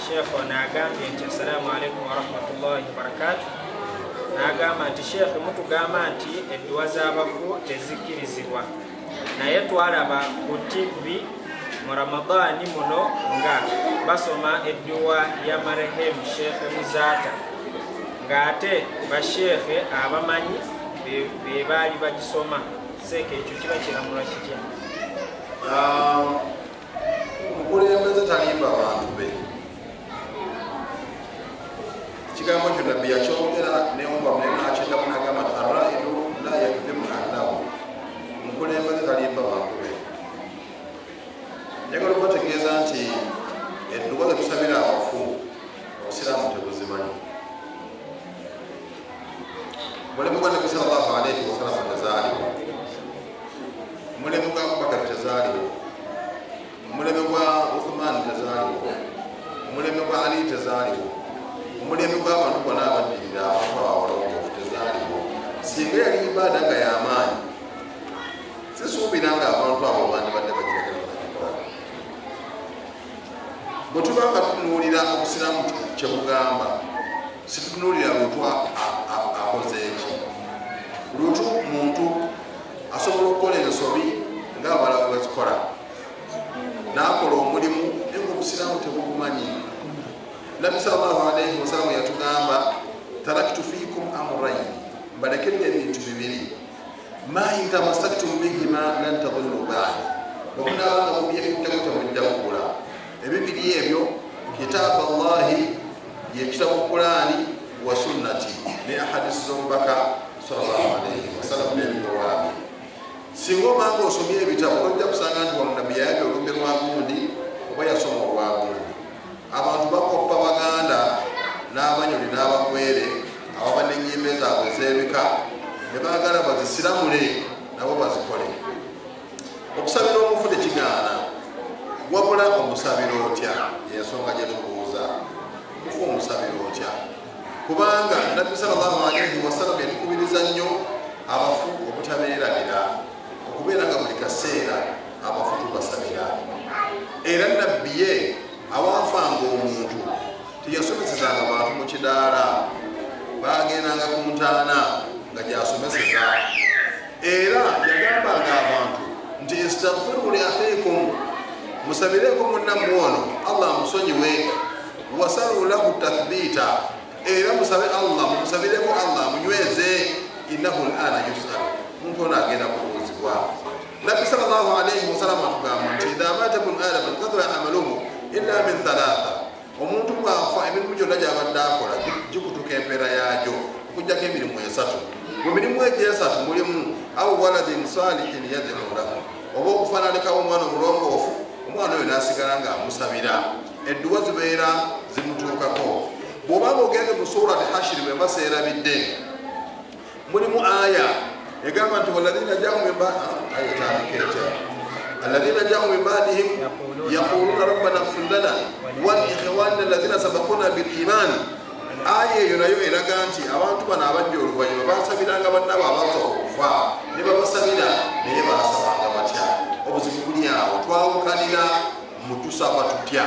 sheekh ono agambye nti assalaamu alaikum warahmatullahi wabarakatu n'agamba nti sheekh mutugamba nti edduwa z'abafu tezikkirizibwa naye twalaba ku tivi mu ramadaani muno nga basoma edduwa ya marehemu sheekhe muzaata ng'ate basheekhe abamanyi be baali bagisoma seeka ekyo kiba kiramula kitya ah, omukulembeze talimba abantu be ekigambo kyo nabbi yakyogera newumba munenakyeddamu nagamba nti araidu la yakdimu annahu omukulembeze talimba abantu be njagala okubategeeza nti edduwa zetusabira abafu obusiraamu tebuzimanyi mulimu gwa nabbi sal llahu alaihi wasalama nazaalibwa omulembe gwa abubakar tezaaliwo omulembe gwa uthuman tezaaliwo omulembe gwa ali tezaaliwo omulembe gwabantu bona abaddirira abantu abawologofu tezaaliwo singa yali ibaada nga yamaanyi sisuubira nga abantu abo bandibadde bagiragala bwetuba nga tunuulira obusiraamu kyebugamba situtunulira lutu akoze eki lutu muntu asobola okukola ensobi ngaabala wezikola nakola omulimu naye obusiraamu tebugumanyi nabi salllahu alaihi wasalamu yatugamba taraktu fikum amuraini mbalekedde ebintu bibiri ma intamasaktum bihima lan tadullu ba'di okunaba nga mubyekuttemu temujja kugula ebibiri ebyo kitaabu allahi yekitabu kulaani wa sunnati ne ahadisi z'omubaka sallallahu alaihi wasallam n'ebirowaabye singa obanga osomye ebitabo ojja kusanga nti wano nabbi yayabya olumbe lwa gundi oba yasoma olwa gundi abantu bakoppa baganda n'abanyoni n'abakwere ababa n'ennyimba ezaabwe ez'ebika ne baagala bazisiramule nabo bazikole okusabira omufu tekigaana wabula omusabira otya yensonga gye tubuuza mufu omusabira otya kubanga nabbi sal llahu alaihi wasallam yatukubiriza nnyo abafu obutabeerabira okubeera nga buli kaseera abafu tubasabira era nabbi ye awaafanga omuntu teyasomesezanga bantu mu kidaala bagendanga ku ntaana nga gyasomeseza era yagambanga abantu nti istagfiru li akhikum musabireeko munnammwe ono allah amusonyiwe wasalu lahu tathbiita era musabe allah mumusabireko allah munyweze innahu lana yusal omuntu ono agenda kubuuzibwa nabbi sal llah alaihi wasalama atugamba nti idha mata bnu adama nkathura amaluhu illa min thalatha omuntu bwafa emirimu gyonna gyabadde akola gikutuka empeera yagyo okujjako emirimu esatu mu mirimu egyo esatu mulimu au waladin salihin yadhuru lahu oba okufananikawo omwana omulongoofu omwana oyo nasigala nga amusabira edduwa zibeera zimutuukako bwoba nga ogenze mu surat hashiri bwemba seerabidde mulimu aya egamba nti waladina jamu mimbaayotandikeeta aladina jamu mimbaadihim yaquluna rabbana gfir lana walikhwanina aladina sabakuna biliman aya eyo nayo eraga nti abantu bano abajja oluvanyuma basabiranga bannabo abaza okufa ne babasabira naye basabanga batya obuzibu buli awo twawukanira mutusaba tutya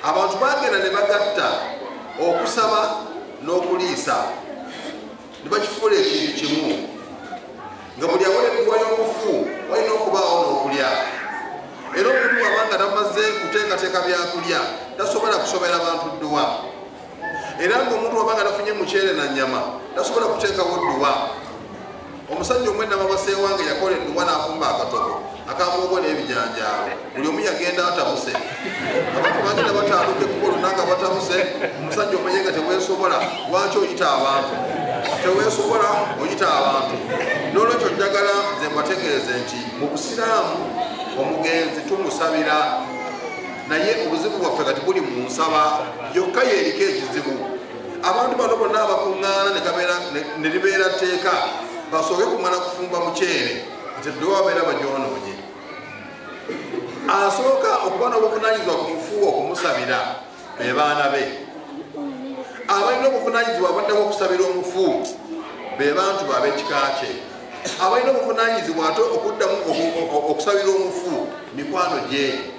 abantu bagenda ne bagatta okusaba n'okuliisa ne bakifuula ekintu kimu nga buli awereddwa y'omufu walina okubaawo n'okulya era omuntu wabanga tamaze kuteekateeka byakulya tasobola kusobera bantu dduwa era nga omuntu waba nga nafunye mukyere na nyama tasobola kuteekawo dduwa omusajja omwenama baseewange yakola edduwa n'afumba akatoko akamuugo n'ebijanjaalo buli omu yagenda atabuse abantu bagenda bataaluke kukolona nga batabuse omusajja omenye nga teweesobola lwaki oyita abantu teweesobola oyita abantu n'olwekyo njagala nze mbategeeze nti mu busiraamu omugenzi tumusabira naye obuzibu bwaffe kati buli mu nsaba yokka yeriko ekizibu abantu bano bonna abakuŋŋaana ne libeera tteeka basooke kumala kufumba muceere nti ddewo abeera bagyonoonye asooka okuba n'obuvunanyizibwa ku mufuuwa okumusabira be baana be abalina obuvunanyizibwa abaddeko okusabira omufu be bantu baabekika kye abalina obuvunanyizibwa ate okuddamu okusabira omufu mikwano gye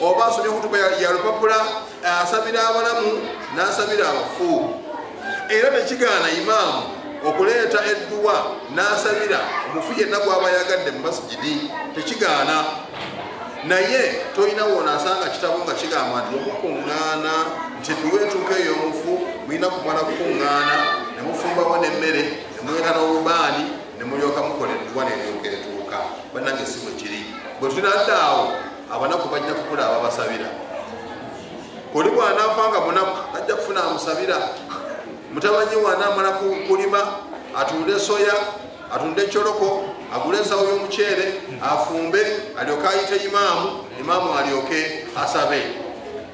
oba asomye kutuba ya lupapula asabira abalamu n'asabira abafu era nekigaana imaamu okuleeta edduwa n'asabira omufu yenna gwaba yagadde mu masigidi tekigaana naye tolina wona asanga kitabo nga kigamba nti okukuŋŋaana nti tuweetuuka eyo omufu mulina kumala kukuŋŋaana ne mufumbawo n'emmere ne muweka n'obubaani ne mulyoka mukola edduwa neryoka etuuka bannange si bwe kiri bwe tunadde awo abanaku bajja kukula ababasabira oli bwanafa nga munaku ajja kufuna amusabira mutabanyi wanamala kulima atunde soya atunde ecoloko agule ensawo y'omuceere afumbe alyoke ayite imaamu imaamu alyoke asabe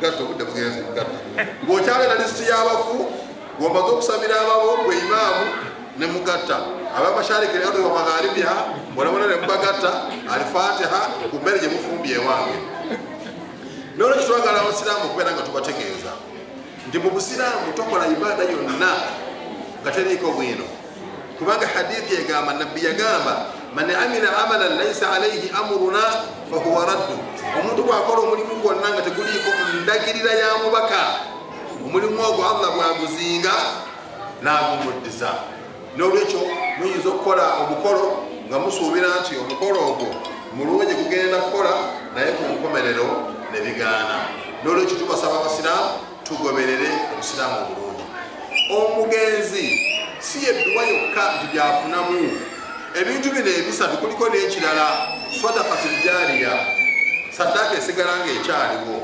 gatta obudde bugenze gatta ng'okyabeera lisiti y'abafu ng'omaze okusabira ababo gwe imaamu ne mugatta abamashariki ne aduwa magharibiha bonabona ne mubagatta alifatiha ku mmere gye mufumbye ewange nolwekyo twagala abasiraamu okubeera nga tubategeeza nti mu busiraamu tokola ibaada yonna nga teriiko bwino kubanga hadithi egamba nabbi yagamba man amila amalan laisa alaihi amuruna fahuwa raddu omuntu bwakola omulimu gwonna nga teguliiko ndagirira ya mubaka omulimu ogwo allah bwaguzinga nagumuddiza nolwekyo muyinza okukola omukolo nga musuubira nti omukolo ogwo mulungi kugenda kukola naye ku nkomerero ne bigaana nolwekyo tubasaba abasiraamu tugoberere obusiraamu obulungi omugenzi si yedduwa yokka nti byafunamu ebintu bino ebisatu kuliko n'ekirala sadakatuljaliya saddaaka esigala nga ekyaliwo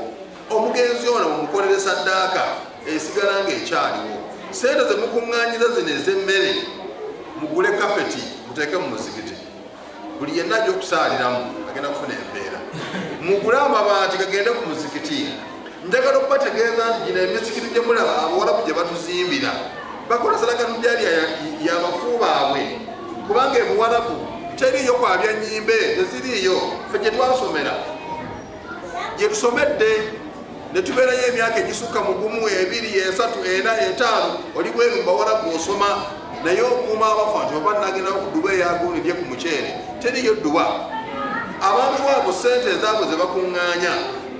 omugenzi ono mumukolere saddaaka esigala nga ekyaliwo sente zemukuŋŋanyiza zino ez'emmere mugule kapeti muteeke mu muzikiti buli yenna ajja okusaaliramu agenda kufuna embeera mugule amabaati gagende ku muzikiti njagala okubategeeza nti gino emizikiti gye mulaba abawalabu gye batuzimbira bakola sadaka nujalya ya bafu baabwe kubanga ebuwalabu teriiyo kwabya nyimbe teziriiyo fe gye twasomera gye tusomedde ne tubeerayo emyaka egisukka mu gumu ebiri esatu ena etaano oli bwenu mubawala gwosoma naye okuuma abafa nti oba nagenda okuduba eyagunidye ku muceere teriyo dduba abantu abo sente ezaabwe ze bakuŋŋaanya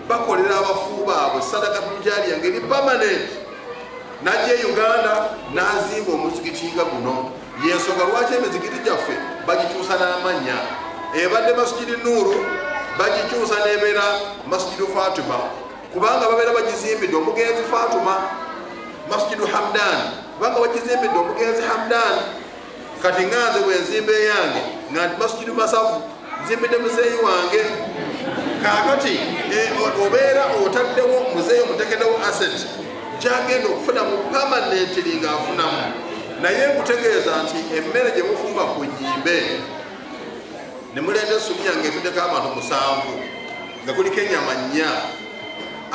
bakolera abafu baabwe sadaka tujaliya ngeri pamanenti najja e uganda nazimba omuzikiti nga guno yensonga lwaki emizikiti gyaffe bagikyusa n'amannya ebadde masujidi nuuru bagikyusa nebeera masujidi fatima kubanga babeera bagizimbidde omugenzi fatima masujidi hamdan kubanga bagizimbidde omugenzi hamdan kati nganze bwenzimba eyange nga ndi masujidi masavu nzimbidde muzeeyi wange kakati eh, obeera otaddewo muzeeyi omutekedewo asset gyagenda okufuna mu pamanentiri ngaafunamu naye nkutegeeza nti emmere gye mufumba ku nyimbe ne muleeta essubi yange etuddeko abantu musanvu nga kuliko ennyama nnya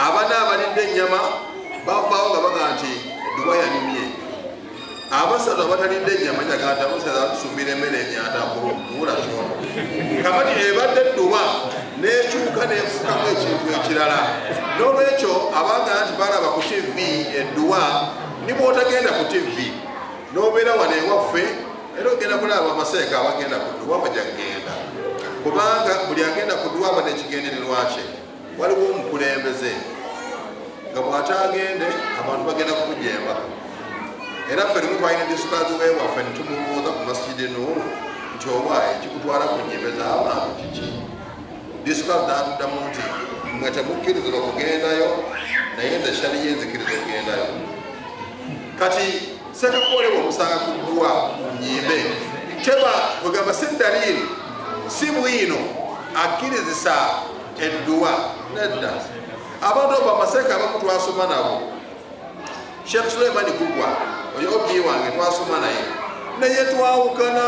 abana abalidde ennyama bavaawo nga baga nti duwa yanyumye abasatu abatalidde enyama kyaganda musaza tusumira emmere emyanda kubula kyona kabati ebadde edduba nekyuka nefukamu ekintu ekirala nolwekyo abanga nti balaba ku tivi edduwa nibwotagenda ku tivi nobeera wano ewaffe era ogenda kulaba amaseeka abagenda ku dduwa bajagenda kubanga buli agenda ku dduwa aba nekigendererwakye waliwo omukulembeze nga bwatagende abantu bagenda kumujeemba era ffe limu twalina disikazi wewaffe netumubuuza ku masijidi nuulu nti oba ekikutwala ku nyimbe z'abantu kiki disikazi natuddamu nti mwe temukkirizibwa kugendayo naye nze shaliyo enzikiriza okugendayo kati sekakolebwa omusanga kuggwa ku nyimbe teba kwegamba si daliiri si bwino akkirizisa edduwa nedda abantu obo amaseeka abamu twasoma nabo sheekh suleimani gugwa oyo obi wange twasoma naye naye twawukana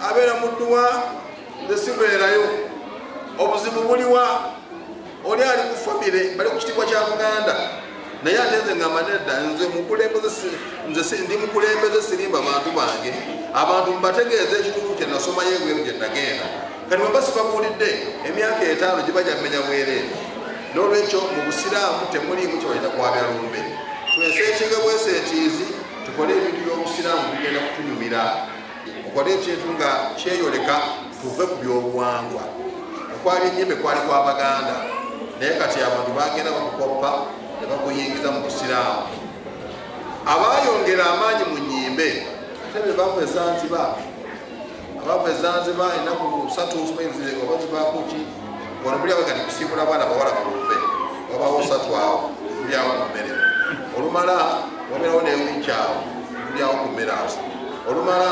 abeera mu dduwa zesibeerayo obuzibu buliwa oli ali ku famire bali ku kitiibwa kya muganda naye ate nze ngamba nedda nze mukulembeze nze ndi mukulembeze sirimba bantu bange abantu mbategeeza ekituufu kyenasomayo ebweru gye nagenda kati baba sibabuulidde emyaka etaano gibajja mmenya bwereere n'olwekyo mu busiraamu temuliimu kyebalina kwabya lumbe tweseekinga bweseekiizi tukole ebintu by'obusiraamu bigenda kutunyumira okole ekintu nga kyeyoleka tuve ku by'obuwangwa okwali enyimbe kwali kwa baganda naye kati abantu bagenda bakukoppa ne bakuyingiza mu busiraamu abaayongera amaanyi mu nyimbe tebe bakwezanziba abaava ezanziba enaku satu obazibakuki wano buli abagani kusimbula abaana bawala balumbe wabawo satu awo buli awo ku mmere olumala waberawo newiki awo buli awo ku mmere awo olumala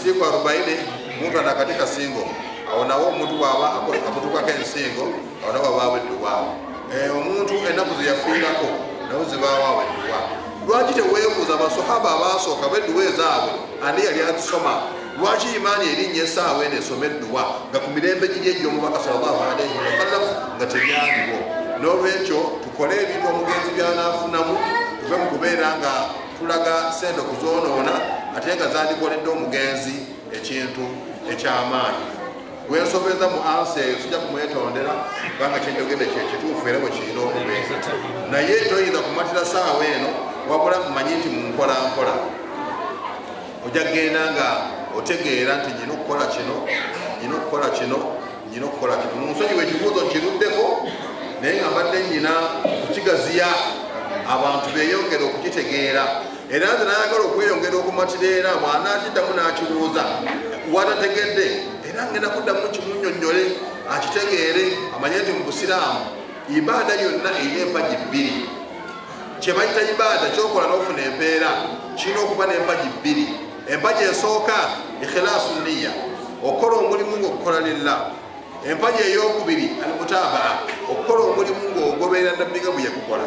siku arobaini muntu anakati kasingo awo nawo omuntu bwaba amutukako ensingo ono babaawo edduwaawo eh, omuntu ennaku zeyafiirako nawo zibawaawo edduwaawo lwaki teweebuuza abasahaba abaasooka bedduwa ezaabwe ani yali azisoma lwaki imaani erinnya esaawa eno esoma edduwa nga ku mirembe giri egy'omubaka salllahu alaihi wasallam nga tebyaliwo n'olwekyo tukole ebintu omugenzi byanaafunamu tuve mu kubeera nga tulaga sente okuzoonoona ate nga zandikoledde omugenzi ekintu ekyamaanyi wensobeza mu ansa eyo sijja kumwetondera kubanga kyenjogedde kyekituufu era bwekirina okubeera naye toyinza kumatira saawa eno wabula mmanyi nti munkolankola ojja kugenda nga otegeera nti nyina okukola kino nyina okukola kino nyina okukola kino munsonyi wekibuuzo nkiruddeko naye nga mbadde nyina kukigaziya abantu beyongere okukitegeera era nze nayagala okweyongera okumatira era mwana akiddamu n'akibuuza watategedde era ngenda kuddamu kimunyonnyole akitegeere amanye nti mu busiraamu ibaada yonna erina empagi bbiri kyebayita ibaada kyokola n'ofuna empeera kirina okuba n'empagi bbiri empagi esooka ikhilaasu niya okukola omulimu ngaokukola lilla empagi ey'okubiri almutaabaa okukola omulimu ngaogoberera nabbiga bwe yakukola